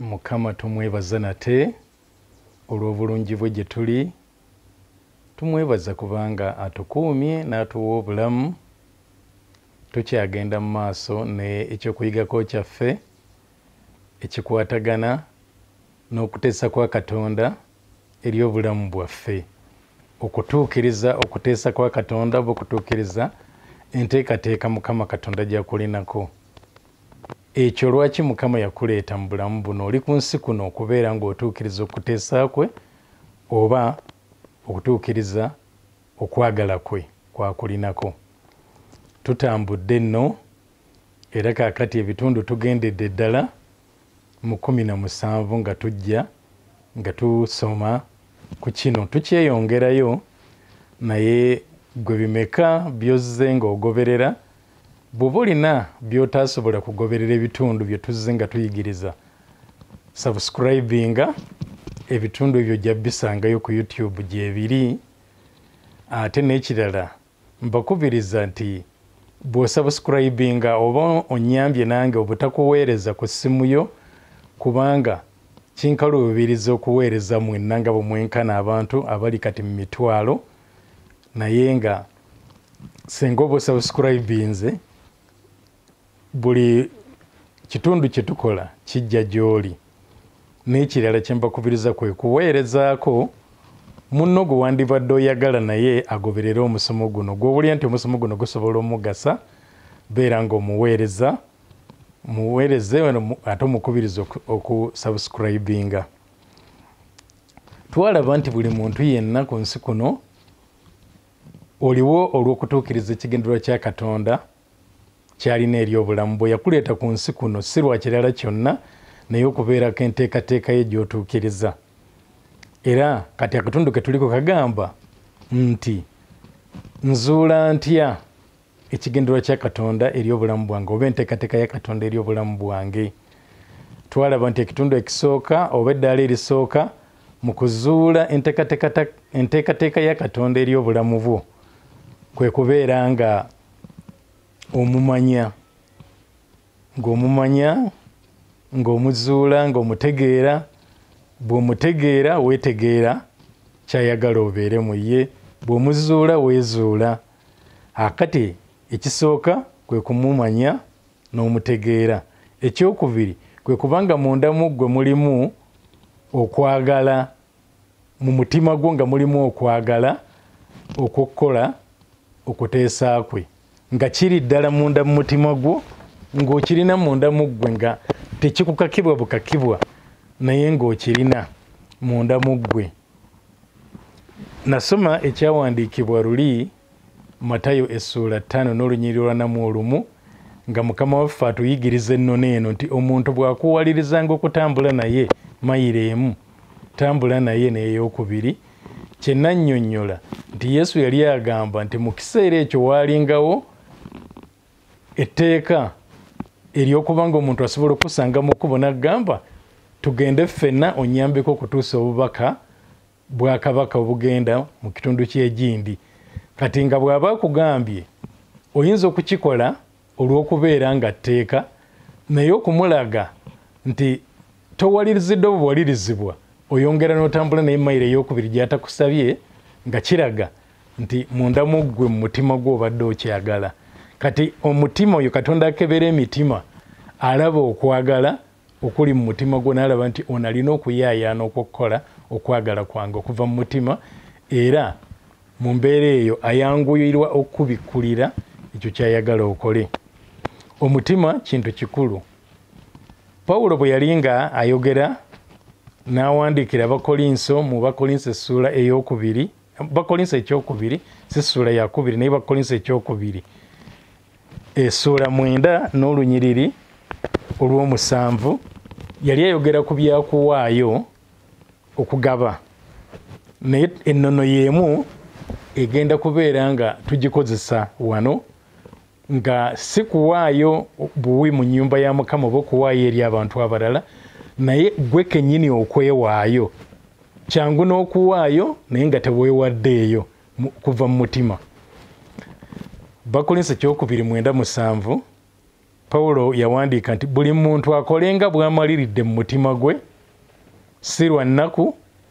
mukama tumwebaza nate olw'obulungi bwe gye tuli tumwebaza kubanga atukuumye n'atuwa obulamu tukyagenda mu maaso n'ekyokuyigako kyaffe ekikwatagana n'okuteesa kwa katonda eri obulamu bwaffe okutuukiriza okuteesa kwa katonda oba okutuukiriza enteekateeka mukama katonda gyakulinako Ekyo lwaki Mukama yakuleeta mu bulamu buno, oli ku nsi kuno okubeera ng'otuukiriza okuteesa kwe oba okutuukiriza okwagala kwe kw'akulinako. Tutambudde nno era kaakati ebitundu tugendedde ddala mu kkumi na musanvu nga tujja nga tusoma ku kino. Tukyeyongerayo naye ggwe bimeka by'ozze ng'ogoberera bwoba olina byotasobola kugoberera ebitundu byetuzze nga tuyigiriza subscribinga ebitundu ebyo ojja bisangayo ku youtube gyebiri ate n'ekirala mbakubiriza nti bwosubscribinga oba onyambye nange obutakuweereza ku ssimu yo kubanga kinkaluubiriza okuweereza mwenna nga bwe mwenkana abantu abali kati mu mitwalo naye nga singa oba osubscribinze buli kitundu kye tukola kijja gy'oli n'ekirala kye mbakubiriza kwe kuweerezaako munno gwe wandibadde oyagala naye agoberere omusomo guno gw'owulira nti omusomo guno gusobola omugasa beera ng'omuweereza muweereze ate omukubiriza okusubscribinga twalaba nti buli muntu yenna ku nsi kuno oliwo olw'okutuukiriza ekigendererwa kya katonda kyalina eri obulamu bwe yakuleeta ku nsi kuno si lwa kirala kyonna naye okubeerako enteekateeka ye gy'otuukiriza era kati akatundu ke tuliko kagamba nti nzuula ntya ekigendererwa kya katonda eri obulamu bwange oba enteekateeka ya katonda eri obulamu bwange twalaba nti ekitundu ekisooka oba eddaala erisooka mu kuzuula enteekateeka ya katonda eri obulamu bwo kwe kubeera nga omumanya ng'omumanya ng'omuzuula ng'omutegeera bw'omutegeera weetegeera kyayagala obeere mu ye bw'omuzuula weezuula we akati ekisooka kwe kumumanya n'omutegeera ekyokubiri kwe kubanga munda mu ggwe mulimu okwagala mu mutima gwo nga mulimu okwagala okukukola okuteesa kwe nga kiri ddala munda mu mutima gwo ng'okirina munda mu ggwe nga tekikukakibwa bukakibwa naye ng'okirina munda mu ggwe nasoma ekyawandiikibwa luli matayo essuula ttaano n'olunyiriri olwanamu olumu nga mukama waffe atuyigiriza ennona eno nti omuntu bw'akuwalirizanga okutambula naye mayiro emu tambula naye n'eyokubiri kye nannyonnyola nti yesu yali agamba nti mu kiseera ekyo waalingawo etteeka eryokuba nga omuntu asobola okusanga mu kkubo nagamba tugende ffenna onyambeko okutuusa obubaka bwakabaka obugenda mu kitundu kyegindi kati nga bwaba akugambye oyinza okukikola olwokubeera nga tteeka naye okumulaga nti towalirizidde obuwalirizibwa oyongera notambula naye mayiro eyokubiri gyatakusabye nga kiraga nti munda mu ggwe mu mutima gwo obadde okyagala kati omutima oyo katonda akebera emitima alaba okwagala okuli mu mutima gwo naalaba nti ono alina okuyaayaana okwokukola okwagala kwange okuva mu mutima era mu mbeera eyo ayanguyirwa okukubikkulira ekyo kyayagala okole omutima kintu kikulu pawulo bwe yali nga ayogera n'awandiikira abakolinso mu bakolinso essuula ey'okubiri bakolinso ekyokubiri si ssuula yakubiri naye bakolinso ekyokubiri essuula mwenda n'olunyiriri olw'omusanvu yali ayogera ku byakuwaayo okugaba naye ennono y'emu egenda kubeera nga tugikozesa wano nga si kuwaayo buwi mu nnyumba ya mukama oba okuwaayo eri abantu abalala naye gwe kennyini okwewaayo kyangu n'okuwaayo naye nga teweewaddeeyo kuva mu mutima bakolinsa ekyokubiri mwenda musanvu pawulo yawandiika nti buli muntu akolenga bw'amaliridde mu mutima gwe si lwa nnaku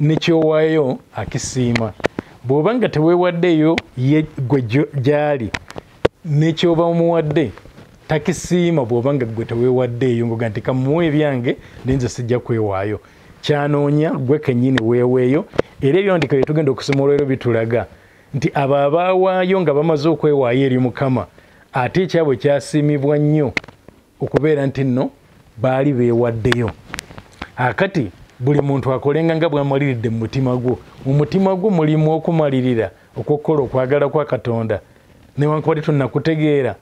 nekyowayo akisiima bwoba nga tewewaddeyo ye gwe gyali nekyoba omuwadde takisiima bwoba nga gwe tewewaddeeyo ngoga nti kamuwa ebyange ninze sijja kwewaayo kyanoonya gwe kenyini weeweeyo era ebyawandika byetugenda okusoma olwero bitulaga nti abo abaawaayo nga bamaze okwewaayo eri mukama ate ekyabwe kyasiimibwa nnyo okubeera nti nno baali beewaddeyo akati buli muntu akolenga nga bwamaliridde mu mutima gwo mu mutima gwo mulimu okumalirira okwokukola okwagala kwa katonda newankubadde tonakutegeera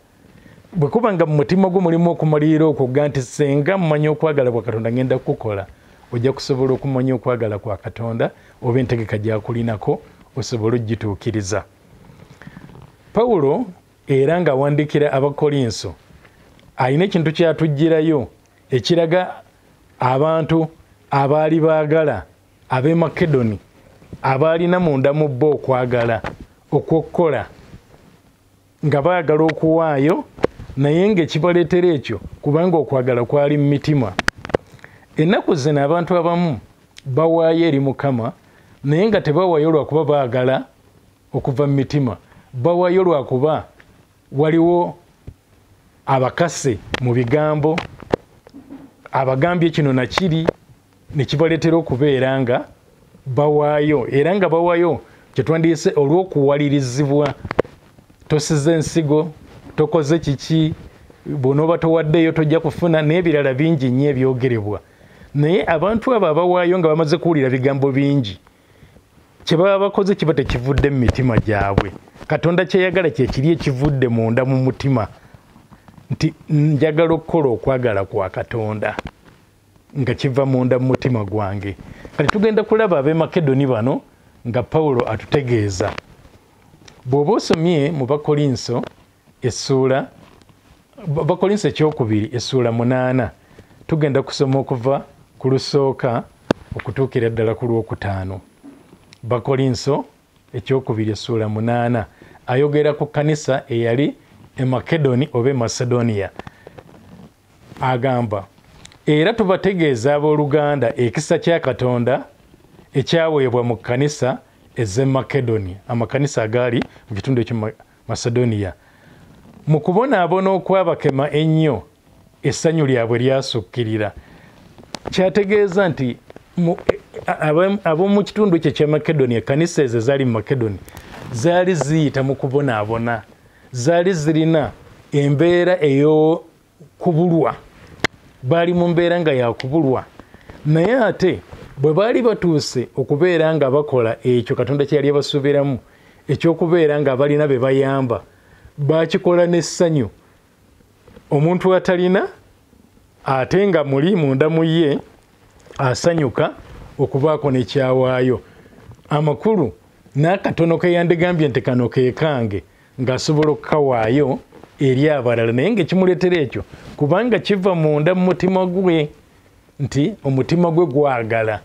bwe kuba nga mu mutima gwo mulimu okumalirira okwo ga nti senga mumanya okwagala kwa katonda ngenda kukukola ojja kusobola okumanya okwagala kwa katonda oba entegeka gyakulinako osobole okugituukiriza pawulo era ng'awandiikira abakolinso alina ekintu kyatuggyirayo ekiraga abantu abaali baagala ab'e makedoni abaalina munda mu bo okwagala okw'okukola nga baagala okuwaayo naye ng'ekibaleetera ekyo kubanga okwagala kwali mu mitima ennaku zino abantu abamu bawaayo eri mukama naye nga tebawaayo lwakuba baagala okuva mu mitima bawayo lwakuba waliwo abakase mu bigambo abagambye kino nakiri nekibaleetera okubeera nga bawaayo era nga bawayo kyetwandiyise olw'okuwalirizibwa tosiza ensigo tokoze kiki bwonooba towaddeeyo tojja kufuna n'ebirala bingi nnyo ebyogerebwa naye abantu abo abawaayo nga bamaze kuwulira bigambo bingi kyebaba bakoze kiba tekivudde mu mitima gyabwe katonda kyeyagala kyekiri ekivudde munda mu mutima nti njagala okukola okwagala kwa katonda nga kiva munda mu mutima gwange kati tugenda kulaba abemakedoni bano nga pawulo atutegeeza bw'oba osomye mu bakolinso essuula bakolinsa ekyokubiri essuula munaana tugenda kusoma okuva ku lusooka okutuukira ddala ku lwokutaano bakolinso ekyokubiri essuula munaana ayogera ku kanisa eyali emakedoni oba emacedonia agamba era tubategeeza abooluganda ekisa kya katonda ekyaweebwa mu kanisa ez'emakedoni amakanisa agaali mu kitundu ekyo Masedoniya. Mu kubonaabona okwabakema ennyo, essanyu lyabwe lyasukkirira. Kyategeeza nti ab'omu kitundu ekyo ekya Makedoniya, ekkanisa ezo ezaali mu Makedoni, zaali ziyita mu kubonaabona, zaali zirina embeera eyo kubulwa baali mu mbeera nga yakubulwa naye ate bwe baali batuuse okubeera nga bakola ekyo katonda kye yali abasuubiramu ekyokubeera nga abalina be bayamba bakikola n'essanyu omuntu atalina ate nga muli munda mu ye asanyuka okubaako nekyawaayo amakulu n'akatono keyandigambye nti kano kekange ng'asobola okukawaayo eri abalala naye ngaekimuleetera ekyo kubanga kiva munda mu mutima gwe nti omutima gwe gwagala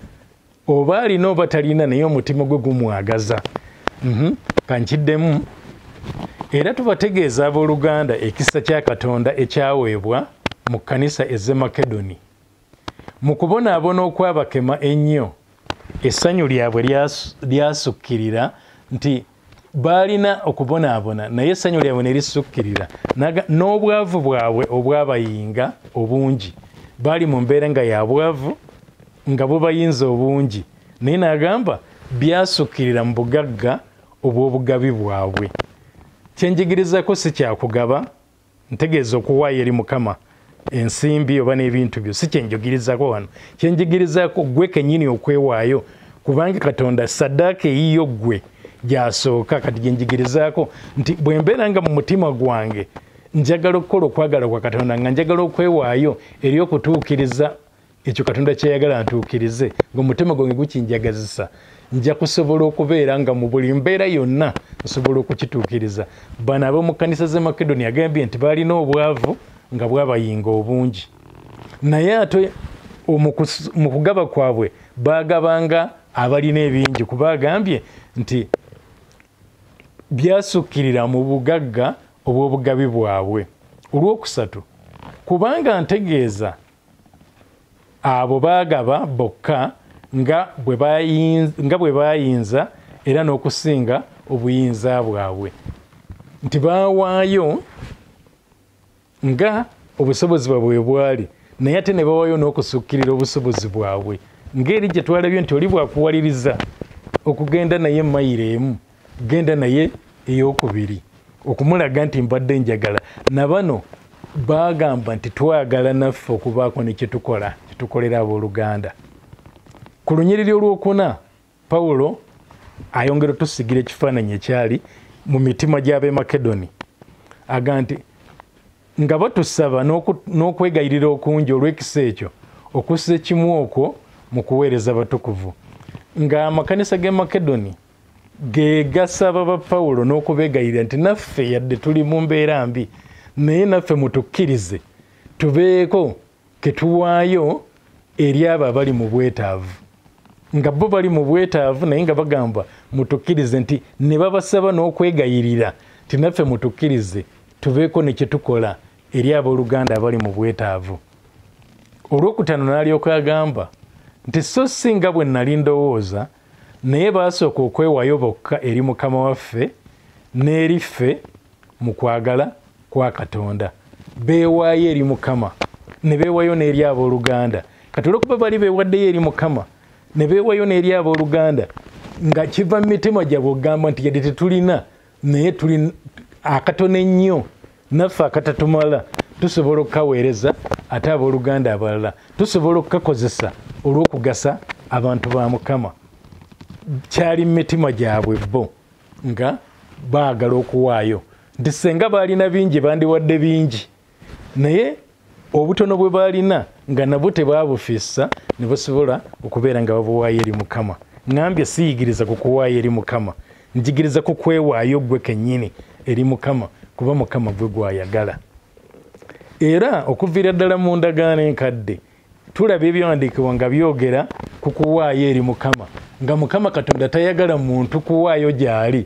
oba alina oba talina naye omutima gwe gumwagaza mhm. kankiddemu era tubategeeza ab'oluganda ekisa kya katonda ekyaweebwa mu kkanisa eze makedoni Mu kubonaabona okwabakema ennyo, essanyu lyabwe lyasukkirira nti baalina okubonaabona naye essanyu lyabwe ne lisukkirira n'obwavu bwabwe obwabayinga obungi baali mu mbeera nga ya bwavu nga bubayinza obungi naye n'agamba byasukkirira mu bugagga obw'obugabi bwabwe kyenjigirizako si kyakugaba ntegeeza okuwaayo eri mukama ensimbi oba n'ebintu byo si kyenjogirizako wano kyenjigirizako gwe kenyini okwewaayo kubanga katonda sadaaka eyiyo ggwe gyasooka kati gyenjigirizaako nti bwe mbeera nga mu mutima gwange njagala okukola okwagala kwa katonda nga njagala okwewaayo eri okutuukiriza ekyo katonda kyeyagala ntuukirize ngaomutima gwange gukinjagazisa nja kusobola okubeera nga mu buli mbeera yonna nsobola okukituukiriza bano ab'omu kkanisa z'e makedoni agambye nti baalina obwavu nga bwabayinga obungi naye ate mu kugaba kwabwe baagabanga abalina ebingi kuba agambye nti byasukkirira mu bugagga obw'obugabi bwabwe olwokusatu kubanga ntegeeza abo baagaba bokka nga bwe baayinza era n'okusinga obuyinza bwabwe nti baawaayo nga obusobozi bwabwe bwe bwali naye ate ne bawaayo n'okusukkirira obusobozi bwabwe ng'eri gye twalabye nti oli bwakuwaliriza okugenda naye mayiro emu genda naye eyokubiri okumulaga nti mbadde njagala nabano bagamba nti twagala naffe okubaako nekyetukola kyetukolera abooluganda ku lunyiriri olwokuna pawulo ayongera otusigira ekifaananyi ekyali mu mitima gy'ab'e makedoni aga nti nga batusaba n'okwegayirira okungi olw'ekisa ekyo okussa ekimu okwo mu kuweereza batukuvu ng'amakanisa g'e makedoni gegasaba ba pawulo n'okubegayirira nti naffe yadde tuli mu mbeera mbi naye naffe mutukkirize tubeeko ketuwaayo eri abo abali mu bwetaavu nga bo bali mu bwetaavu naye nga bagamba mutukkirize nti ne babasaba n'okwegayirira nti naffe mutukkirize tubeeko ne kyetukola eri abooluganda abali mu bwetaavu olwokutaano n'alyoka agamba nti so si nga bwe nali ndowooza naye baasooka okwewayo bokka eri mukama waffe n'eri ffe mu kwagala kwa katonda beewaayo eri mukama ne beewayo n'eri abooluganda kati olwokuba bali beewaddeyo eri mukama ne beewayo n'eri abooluganda nga kiva mu mitima gyabwe okugamba nti yadde tetulina naye tuli akatono ennyo naffe akatatumala tusobola okukaweereza ate abooluganda abalala tusobola okukakozesa olw'okugasa abantu ba mukama kyali mu mitima gyabwe bo nga baagala okuwaayo nti senga baalina bingi bandiwadde bingi naye obutono bwe baalina nga nabwo tebaabufissa ne basobola okubeera nga babuwaayo eri mukama ngambye siyigiriza ku kuwaayo eri mukama njigiriza ku kwewaayo ggwe kennyini eri mukama kuba mukama gwe gwayagala era okuviira ddala mu ndagaano enkadde tulaba ebyawandiikibwa nga byogera ku kuwaayo eri mukama nga mukama katonda tayagala muntu kuwaayo gyali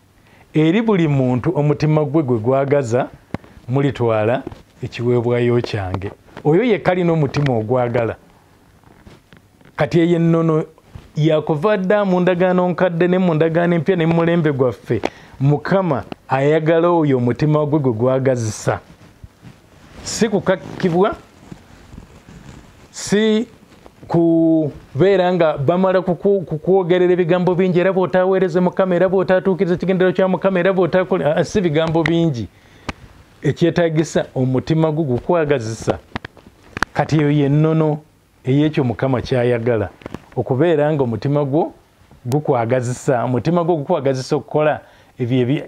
eri buli muntu omutima gwe gwe gwagaza mulitwala ekiweebwayo kyange oyo yekka alina omutima ogwagala kati eyo ennono yakuva dda mu ndagaano nkadde ne mu ndagaano empya ne mumulembe gwaffe mukama ayagala oyo omutima gwe gwe gwagazisa si kukakkibwa si kubeera nga bamala kukwogerera ebigambo bingi era bwotaweereze mukama era bwotatuukiriza ekigendero kya mukama era bwotakole ah, si bigambo bingi ekyetagisa omutima gwo gukwagazisa kati eyo yennono eyekyo mukama kyayagala okubeera nga omutima gwo gukwagazisa omutima gwo gukwagazisa okukola ebyo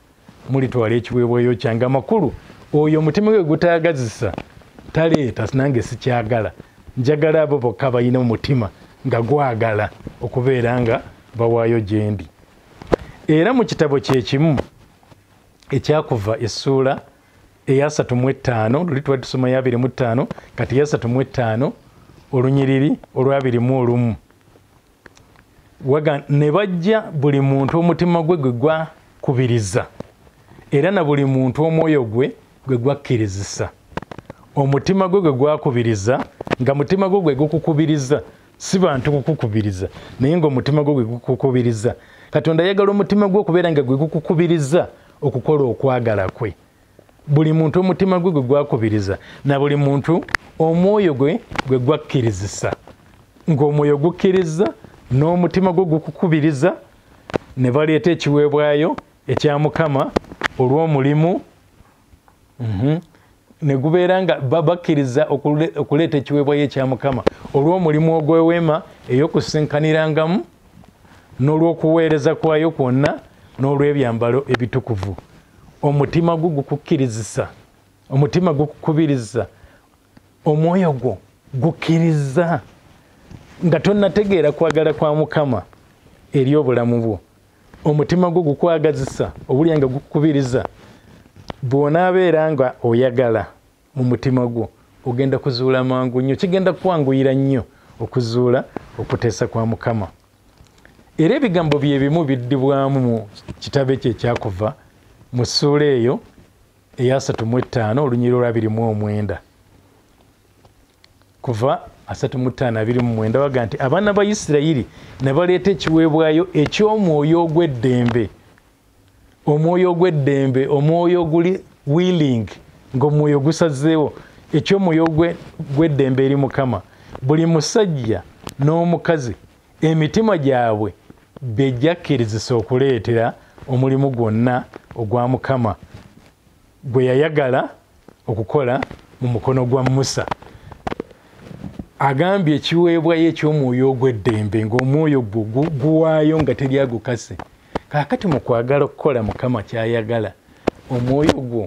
mulitwala ekiweebwayo kyange amakulu oyo omutima gwe gutayagazisa taleeta nange sikyagala njagala abo bokka balina omutima nga gwagala okubeera nga bawaayo gyendi era mu kitabo kyekimu ekyakuva essuula eyasatu mu ettaano luli twali tusoma yabiri mu ttaano kati yasatu mu ettaano olunyiriri olwabiri mu olumu waga ne bajja buli muntu omutima gwe gwe gwakubiriza era na buli muntu omwoyo gwe gwe gwakkirizisa omutima gwe gwe gwakubiriza nga mutima gwe gwe gukukubiriza si bantu kukukubiriza naye nga omutima gwe gwe gukukubiriza katonda ayagala omutima gwe okubeera nga gwe gukukubiriza okukola okwagala kwe buli muntu omutima gwe gwe gwakubiriza na buli muntu omwoyo gwe gwe gwakkirizisa ng'omwoyo gukkiriza n'omutima gwe gukukubiriza ne baleeta ekiweebwayo ekya mukama olw'omulimu mhm, ne gubeera nga bakkiriza okuleeta ekiweebwayo ekya mukama olw'omulimu ogw'eweema ey'okusinkanirangamu n'olw'okuweereza kwayo kwonna n'olw'ebyambalo ebitukuvu omutima gwo gukukkirizisa omutima gukukubiriza omwoyo gwo gukkiriza nga tonnategeera kwagala kwa mukama eri obulamu bwo omutima gwo gukwagazisa obulya nga gukukubiriza bw'onaabeera nga oyagala mu mutima gwo ogenda kuzuula mangu nnyo kigenda kukwanguyira nnyo okuzuula okuteesa kwa mukama era ebigambo bye bimu biddibwamu mu kitabo ekyo ekyakuva mu ssuula eyo eyasatu mu ettaano olunyiriro lwa birimu omwenda kuva asatu mu ttaano abiri mu mwenda waga nti abaana ba isirayiri ne baleeta ekiweebwayo eky'omwoyo ogw'eddembe omwoyo ogw'eddembe omwoyo oguli willing ng'omwoyo gusazeewo eky'omwoyo gw'eddembe eri mukama buli musajja n'omukazi emitima gyabwe bejjakkirizisa okuleetera omulimu gwonna ogwa mukama gwe yayagala okukola mu mukono gwa musa agambye ekiweebwayo eky'omwoyo ogw'eddembe ng'omwoyo gwo guwaayo nga teri agukase kaakati mu kwagala okukola mukama ky'ayagala omwoyo gwo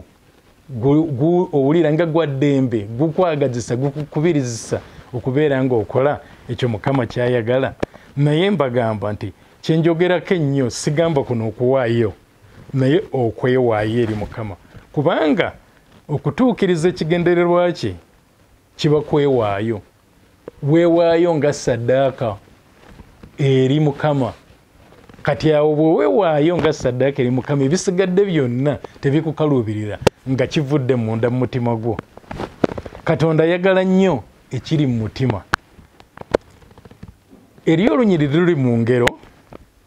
owulira nga gwa ddembe gukwagazisa gukukubirizisa okubeera ng'okola ekyo mukama ky'ayagala naye mbagamba nti kyenjogerako ennyo sigamba kuno okuwaayo naye okwewaayo eri mukama kubanga okutuukiriza ekigendererwa kye kiba kwewaayo weewaayo nga saddaaka eri mukama kati awo bwe weewaayo nga saddaaka eri mukama ebisigadde byonna tebikukaluubirira nga kivudde munda mu mutima gwo katonda ayagala nnyo ekiri mu mutima eri olunyiriri luli mu ngero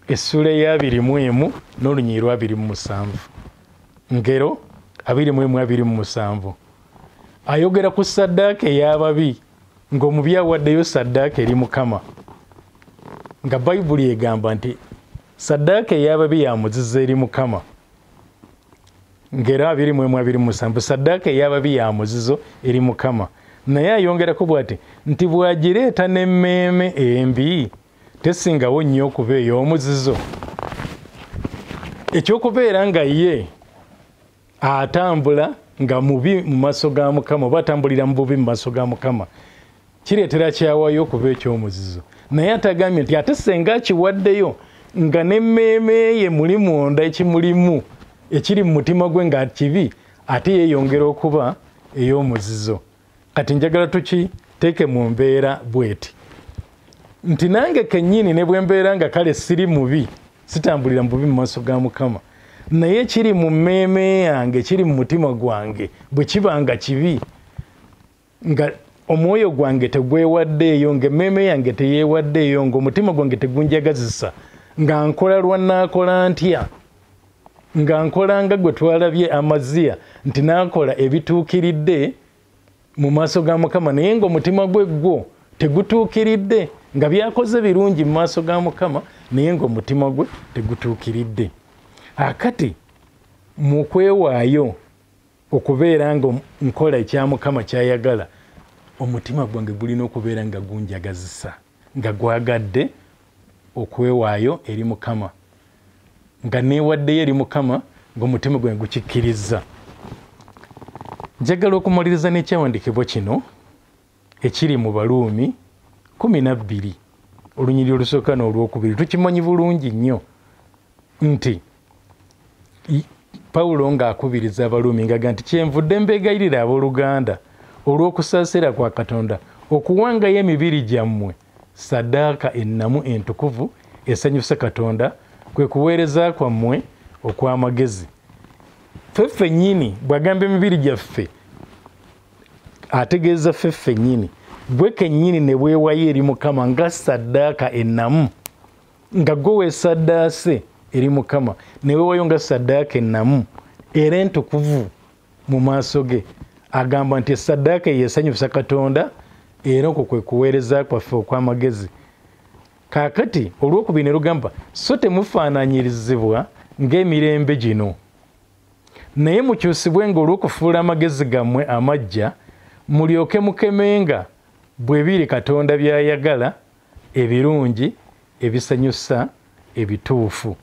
essuula eyabiri mu emu n'olunyiri lwabiri mu musanvu ngero abiri mu emu abiri mu musanvu ayogera ku saddaaka ey'ababi ng'omubi awaddeyo saddaaka eri mukama nga bayibuli egamba nti saddaaka ey'ababi yamuziza eri mukama ngero abiri mu emu abiri mu musanvu saddaaka ey'ababi yamuzizo eri mukama naye ayongerako bwati nti bw'agireeta n'emmeeme embi tesingawo nnyo okuba ey'omuzizo ekyokubeera nga ye atambula nga mubi mu maaso ga mukama oba atambulira mu bubi mu maaso ga mukama kireetera kyawayo okuba ekyomuzizo naye atagambye nti ate senga akiwaddeyo nga n'emmeeme ye muli munda ekimulimu ekiri mu mutima gwe nga kibi ate yeeyongera okuba ey'omuzizo kati njagala tuki teeke mu mbeera bweti nti nange kennyini ne bwe mbeera nga kale siri mubi sitambulira mu bubi mu maaso ga mukama naye kiri mu mmeeme yange kiri mu mutima gwange bwe kiba nga kibi nga omwoyo gwange tegwewaddeeyo nga emmeeme yange teyeewaddeeyo ngaomutima gwange tegunjagazisa nga nkola lwa naakola ntya nga nkola nga gwe twalabye amaziya nti nakola ebituukiridde mu maaso ga mukama naye nga omutima gwe gwo tegutuukiridde nga byakoze birungi mu maaso ga mukama naye nga omutima gwe tegutuukiridde akati mu kwewaayo okubeera nga nkola ekya mukama kyayagala omutima gwange gulina okubeera nga gunjagazisa nga gwagadde okwewaayo eri mukama nga neewaddeyo eri mukama ng'omutima gwe gukikkirizza njagala okumaliriza n'ekyawandikibwa kino ekiri mu baluumi kumi na bbiri olunyiri olusooka n'olwokubiri tukimanyi bulungi nnyo nti pawulo ng'akubiriza abaluumi ngaga nti kyenvudde mbeegayirira abooluganda olw'okusaasira kwa katonda okuwangayo emibiri gyammwe sadaaka ennamu entukuvu esanyusa katonda kwe kuweereza kwammwe okw'amagezi ffe ffennyini bw'agamba emibiri gyaffe ategeeza ffe ffennyini gwe kennyini ne bwewayo eri mukama nga sadaaka ennamu nga gwe weesaddaase eri mukama newewayo nga saddaaka ennamu era entukuvu mu maaso ge agamba nti esaddaaka yesanyusa katonda era okwo kwe kuweereza kwaffe okw'amagezi kaakati olw'okubiri ne lugamba so temufaananyirizibwa ng'emirembe gino naye mukyusibwe nga olw'okufuula amagezi gammwe amajja mulyoke mukemenga bwe biri katonda by'ayagala ebirungi ebisanyusa ebituufu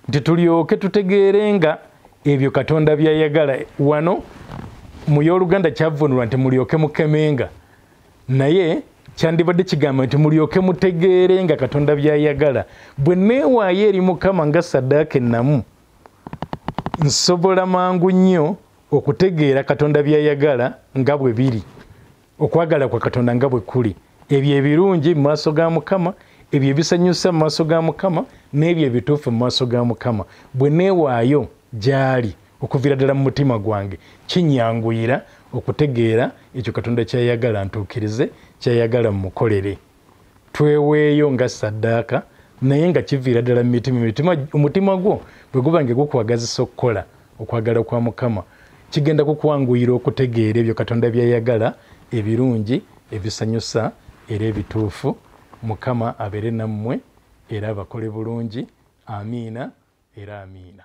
nti tulyoke tutegeere nga ebyo katonda byayagala wano mu y'oluganda kyavunulwa nti mulyoke mukemenga naye kyandibadde kigamba nti mulyoke mutegeere nga katonda byayagala bwe neewaayo eri mukama nga saddaaka ennamu nsobola mangu nnyo okutegeera katonda byayagala nga bwe biri okwagala kwa katonda nga bwe kuli ebyo ebirungi mu maaso ga mukama ebyo ebisanyusa mu maaso ga mukama n'ebyo ebituufu mu maaso ga mukama bwe neewaayo gy'ali okuviira ddala mu mutima gwange kinyanguyira okutegeera ekyo katonda kyayagala ntuukirize kyayagala mumukolere tweweeyo nga saddaaka naye nga kiviira ddala mu mitima mitima omutima gwo bwe guba nga gukwagazisa okukola okwagala kwa mukama kigenda kukwanguyira okutegeera ebyo katonda byayagala ebirungi ebisanyusa era ebituufu mukama abeere nammwe era abakole bulungi amiina era amiina